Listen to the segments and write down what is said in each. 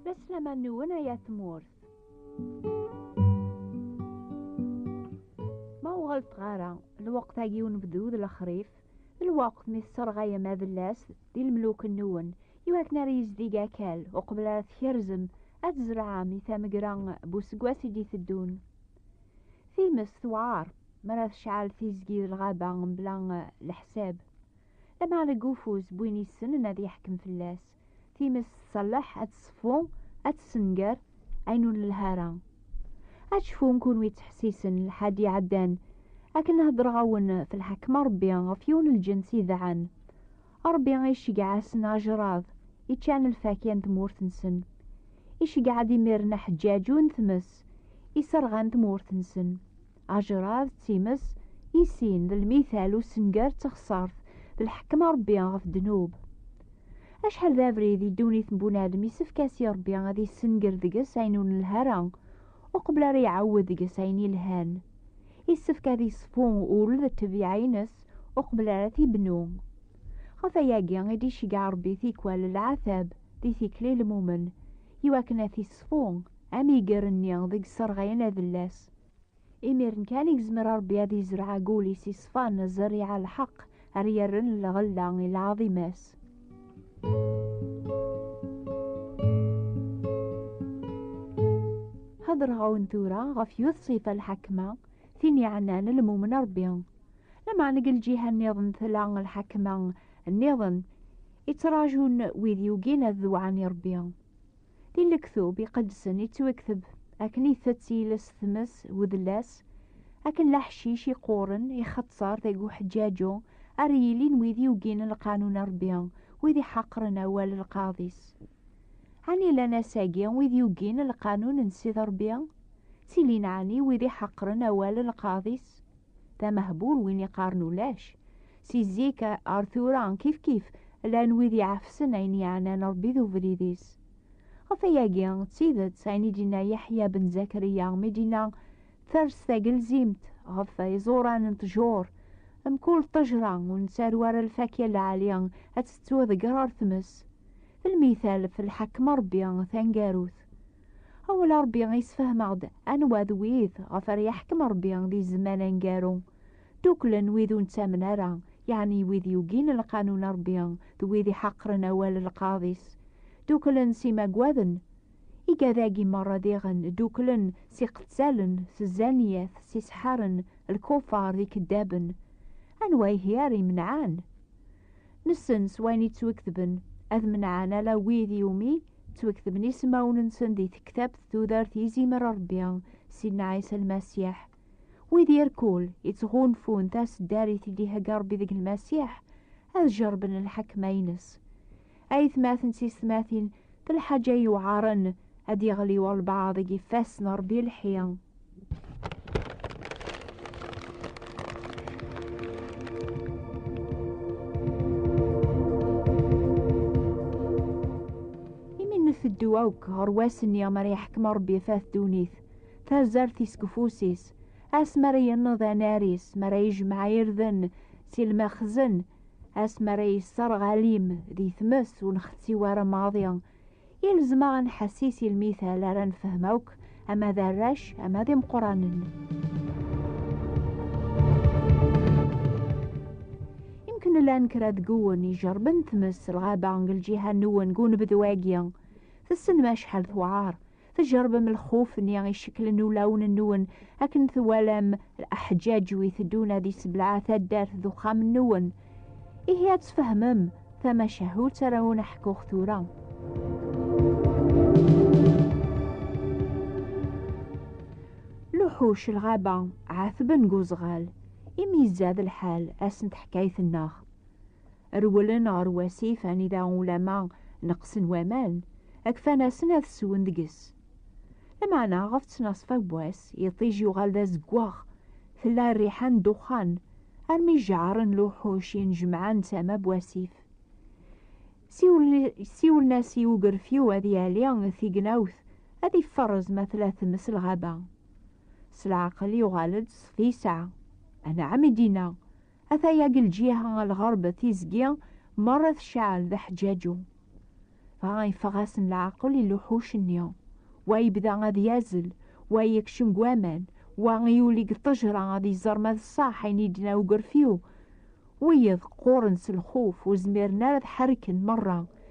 Laslaman-nwen ay at tmurt. Ma ur ɣellteɣ ara, lweqt-agi unebdu d lexrif, Lweqt mi tesserɣayem adellas d lemluk-nwen, iwakken ara yezdig akal uqbel ara tkerzem ad tzerɛem i tamegra n useggas i d-iteddun. Times tewɛer mi ara tecɛel tizgi d lɣaba mebla leḥsab, lameɛna deg ufus n win yessnen ad yeḥkem fell-as. Times tṣelleḥ ad tṣeffu, ad tessenger ayen ur nelha ara. Ad cfun kunwi ttḥessisen lḥad iɛeddan akken heddreɣ-awen f lḥekma Ṛebbi ɣef yiwen lǧens idɛan. Ṛebbi iceggeɛ-asen ajṛad, iččan lfakya n tmurt-nsen. Iceggeɛ-d imiren aḥeǧǧaǧu n tmes, iserɣan tmurt-nsen. Ajerad d times, i sin d lmital usengar d texsart d lḥekma Rebbi ɣef ddnub. Acḥal d abrid i ddunit n bunadem isefk as i Rebbi ad issenger deg-s ayen ur nelha ara, uqbel ara iɛawed deg-s ayen ilhan. Isefk ad iṣfu ul d tebyiɛ-ines uqbel ara t-ibnu. Ɣef ayagi i d-iceggeɛ Rebbi tikwal lɛatab di tikli lmumen, i wakken ad t-iṣfu. amiger-nni deg sserɣayen adellas. Imiren kan i yezmer Rebbi ad yezreɛ deg wul-is iṣfan, zzerriɛa n lḥeqq, ara yerren lɣella i lɛaḍima-s. Heddreɣ-awen tura ɣef yiwet ṣṣifa n lḥakma, tin yeɛnan lmumen Rebbi. Lameɛna deg lǧiha nniḍen tella lḥakma nniḍen i ttrajun wid yugin ad dewɛen i Rebbi. Di lektub iqedsen ittwekteb akken itett yiles tmes wedlas, akken laḥcic iqquren ixetter deg uḥeǧǧaǧu ara yilin wid yugin lqanun n Rebbi, wid iḥaqren awal n lqaḍ-is. Ɛni llan ass-agi wid yugin lqanun n Ssid Rebbi? Ttilin ɛni wid iḥaqren awal n lqaḍ-is? D amehbul win iqqaren ulac, Si zik ar tura kif kif llan wid iɛefsen ayen yeɛnan Ṛebbi d ubrid-is. Ɣef ayagi, d tidet ayen i d-yenna Yeḥya ben Zakariya mi d-yenna Ters tagelzimt ɣef iẓuran n ṭjur, mkul ṭejra ur nettaru ara lfakya n lɛali ad tettu deg ɣer tmes. D lmital ɣef lḥekem n Ṛebbi taneggarut. Awal n Ṛebbi yessefhem-aɣ-d anwa d wid ɣef ara yeḥkem Ṛebbi di zzman aneggaru. Ddukklen wid ur nettamen ara, yeɛni wid yugin lqanun n Ṛebbi d wid iḥaqren awal n lqaḍ-is. Ddukklen s imaggaden. Igad-agi merra diɣen ddukklen s iqettalen, s zzaniyat, s iseḥḥaren, lkufar, d ikeddaben. Anwa ihi ara imenɛen? Nessen s wayen i ttweketben, ad menɛen ala wid i wumi ttweketben isemawen-nsen di tektabt tudert i izimer Ṛebbi, Sidna Ɛisa Lmasiḥ. Wid irkul ittɣunfun taseddarit i d-ihegga Rebbi deg Lmasiḥ, ad jerben lḥekma-ines. Aytmaten d tiysetmatin, d lḥaǧa yewɛaren ad d-yeɣli walbaɛḍ deg ifassen n Rebbi lḥi. nteddu akk ɣer wass-nni mi ara yeḥkem Rebbi ɣef ddunit. tazart-is deg ufus-is, ass mi ara yenneḍ anar-is, mi ara yejmeɛ irden si lmexzen, ass mi ara yesserɣ alim di tmes ur nxetti wara maḍi. Ilzem-aɣ ad nḥessis i lmital ara nefhem akk, ama d arrac, ama d imeqqranen. Imken llan kra deg uwen ijerben tmes s lɣaba deg lǧiha n uwen deg unebdu-agi. Tessnem acḥal tewɛer. tjerbem lxuf-nni iceklen ulawen-nwen akken twalam aḥǧaǧ wi teddun ad isebleɛ taddart d uxxam-nwen. Ihi ad tfehmem tamacahut ara wen-ḥkuɣ tura. Luḥuc lɣaba ɛetben deg uzɣal, imi izad lḥal ass n teḥkayt-nneɣ. rewlen ɣer wasif anida ulama neqsen waman, akfan-asen ad swen deg-s. Lameɛna ɣef ttnaṣfa n wass, iṭij yuɣal d azeggaɣ, tella rriḥa n ddexxan, armi jjaɛren luḥuc yennejmaɛen tama n wasif. Siwlen-as i ugerfiw ad yali tignawt, ad iferrez ma tella tmes lɣaba. S leɛqel yuɣal-d s tisɛa. Anɛam i d-yenna. Ata yagi lǧiha ɣer lɣerb tizgi merra tecɛel d aḥeǧǧaǧu. Dɣa yeffeɣ-asen leɛqel i luḥuc-nni. Wa yebda ad yazzel, wa yekcem deg waman, wa yuli deg ṭṭejra ad iẓer ma d ṣṣeḥ ayen i d-yenna ugerfiw. Wiyiḍ qquren s lxuf, ur zmiren ara ad ḥerken merra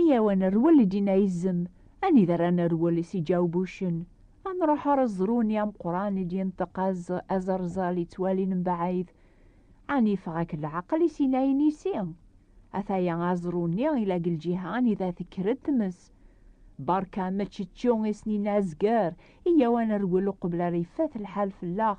Iyyaw a nerwel i Dina Izem, anida ara nerwel i Siǧaw Bucen, a nruḥ ar ẓru-nni ameqqran i d-yenṭeq az aẓerzal yettwalin mbaɛid, ɛni yeffeɣ-ak leɛqel i sin-a inisi? Ataya aẓru-nni ila deg lǧiha anida tekker-d tmes. Berka meččečču isnin-a azger, iyyaw a nerwel uqbel ara yeffat lḥal fell-aɣ.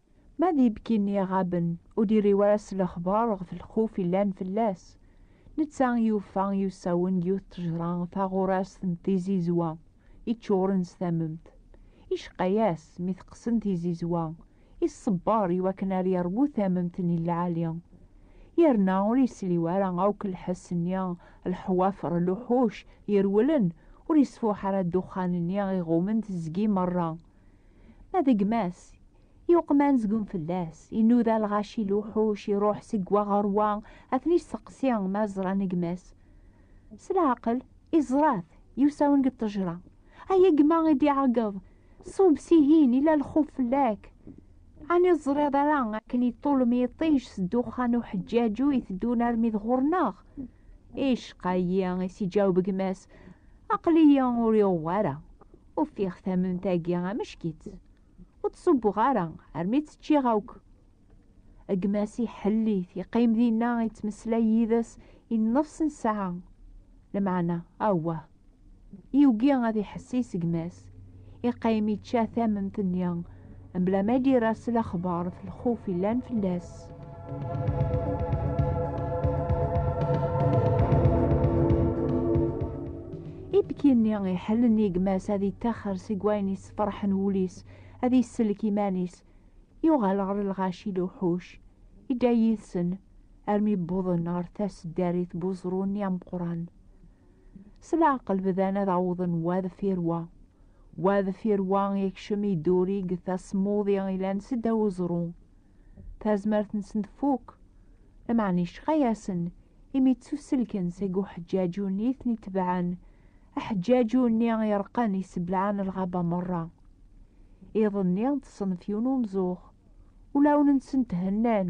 Ma d ibki-nni iɣaben ur d-irriw ara s lexbar ɣef lxuf yellan fell-as, netta yufa i usawen n yiwet ttejra taɣurast n tizizwa iččuren s tamemt. Iceqqa-yas mi teqqsen tizizwa, iṣebber i wakken ar yerwu tamemt-nni n lɛali, yerna ur yesliw ara akk lḥess-nni lḥwafer luḥuc irewlen, ur yesfuḥ ara ddexxan-nni iɣummen tezgi merra. Ma d gma-s, yuqman zgun fell-as, inuda lɣaci n lewḥuc, iruḥ seg wa ɣer wa, ad ten-isteqsi ma ẓran gma-s. S leɛqel, iẓra-t, yusa-wen deg ṭṭejra. Ay gma i d-iɛeggeḍ, ṣub sihin, ila lxuf fell-ak. Ɛni ur teẓriḍ ara akken iṭṭulem yiṭij s ddexxan n uḥeǧǧaǧu iteddun armi d ɣur-neɣ? Icqa-yi, i s-iǧaweb gma-s, aql-iyi ur yuɣ wara. Ufiɣ tamunt-agi ameck-itt. Ur tt-ṣubbuɣ ara, armi tt-ččiɣ akk. Gma-s iḥelli-t, yeqqim dinna, yettmeslay yid-s i nnefs n ssaɛa. Lmeɛna, awah! Yugi ad iḥessis gma-s. Iqqim ičča tamemt-nni, Mebla ma d-yerra s lexbar ɣef lxuf yellan fell-as. Ibki-nni iḥellen i gma-s ad yettaxer seg wayen yessefraḥen wul-is, ad yesselk iman-is. Yuɣal ɣer lɣaci n uḥuc, idda yid-sen armi wwḍen ɣer taseddarit n weẓru-nni ameqqran. S leɛqel bdan ad awḍen wa deffir wa. Wa deffir wa ikcem iddurig tasmuḍi ilan s ddaw uẓru. Tazmert-nsen tfuk. Lameɛna yecqa-yasen imi ttuselken seg uḥeǧǧaǧu-nni i ten-itebɛen, aḥeǧǧaǧu-nni ireqqen yesseblaɛen lɣaba merra. Iḍ-nni ṭṭsen ɣef yiwen umzuxx. Ulawen-nsen thennan.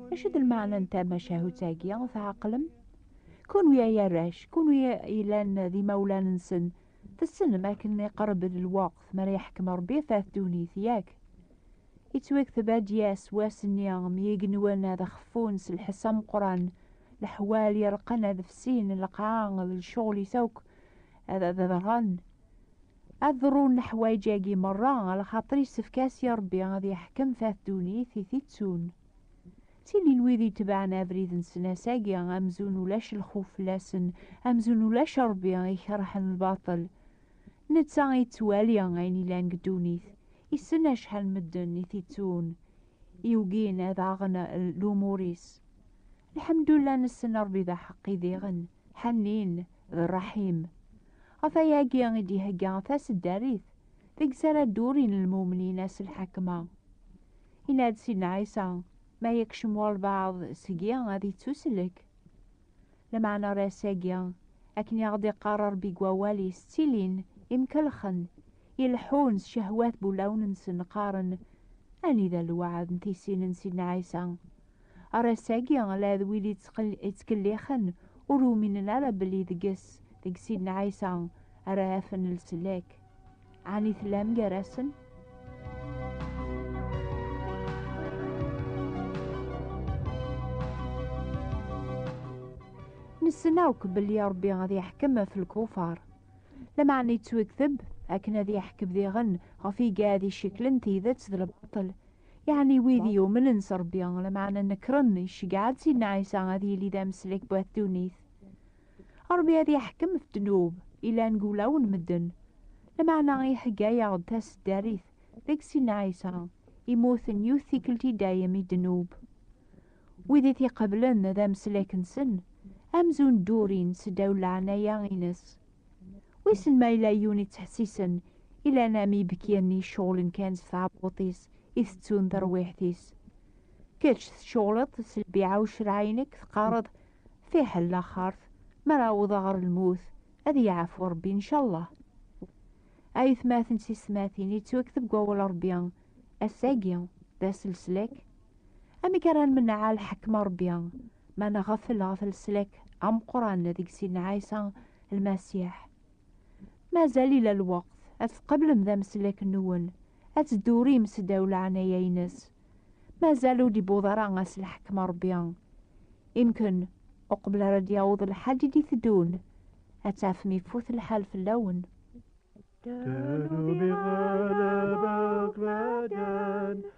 Acu d lmeɛna n tamacahut-agi? Tɛeqlem? Kunwi ay arrac, kunwi yellan d imawlan-nsen, tessnem akken iqerreb lweqt mi ara yeḥkem Rebbi ɣef ddunit, yak? Yettwakteb ad d-yas wass-nni mi igenwan ad xeffun s lḥess ameqran, leḥwal ireqqen ad fsin, lqaɛa d lecɣel-is akk ad d-ḍerren. Ad ḍerrun leḥwayeǧ-agi merra, axaṭer yessefk-as i Rebbi ad yeḥkem ɣef ddunit i t-ittun. Tilin wid itebɛen abrid n snasagi amzun ulac lxuf fell-asen, amzun ulac Ṛebbi, ikerhen lbaṭel. Netta ittwali ayen ilan deg ddunit, issen acḥal n medden i t-ittun, yugin ad aɣen lumur-is. Lḥemdullah nessen Ṛebbi d aḥeqqi diɣen, ḥennin, d ṛṛaḥim. Ɣef wayagi i d-ihegga taseddarit deg-s ara ddurin lmumnin ass lḥakma. Yenna-d Sidna Ɛisa, ma yekcem walbaɛḍ seg-i ad yettuslek. Lameɛna ar ass-agi, akken i aɣ-d-iqqar Ṛebbi deg wawal-is, ttilin imkelxen, ileḥḥun s cehwat n wulawen-nsen, qqaren, Anida lweɛd n tissin n Sidna Ɛisa? Ar ass-agi, la d wid ittkellixen ur uminen ara belli deg-s, deg Sidna Ɛisa, ara afen leslak. Ɛni tellam gar-asen? Nessen akk belli Ṛebbi ad yeḥkem ɣef lkufar. Lameɛna yettwekteb akken ad yeḥkem diɣen ɣef igad iciklen tidet d lbaṭel. Yeɛni wid yumnen s Ṛebbi, lameɛna nekren, iceggeɛ-d Sidna Ɛisa ad yili d ameslek n wat ddunit. Ṛebbi ad yeḥkem ɣef ddnub yellan deg wulawen n medden. Lameɛna ihegga-yaɣ-d taseddarit deg Sidna Ɛisa, immuten yiwet tikkelt i dayem i ddnub. Wid i t-iqeblen d ameslak-nsen, amzun ddurin seddaw n leɛnaya-ines. Wissen ma yella yiwen ittḥessisen i llan am yibekkiyen iceɣlen kan s tɛebbuṭ-is i tettun terwiḥt-is. Kečč tceɣleḍ s lbiɛa ucreɛ-inek, teqqareḍ Fiḥel laxert, mi ara awḍeɣ ɣer lmut, ad yeɛfu Rebbi ncallah. Ayetmaten d tiysetmatin yettwek deg wawal n Rebbi, ass-agi d ass leslak. Amek ara nmenneɛ lḥekma n Rebbi ma nɣeffel ɣef leslak ameqqran deg Sidna Ɛisa Lmasiḥ? Mazal ila lweqt ad tqeblem d ameslak-nwen, ad teddurim s ddaw leɛnaya-ines. Mazal ur d-iwweḍ ara ass n lḥekm n Rebbi. Imken, uqbel ara d-yaweḍ lḥal i d-iteddun, ad tafem ifut lḥal fell-awen.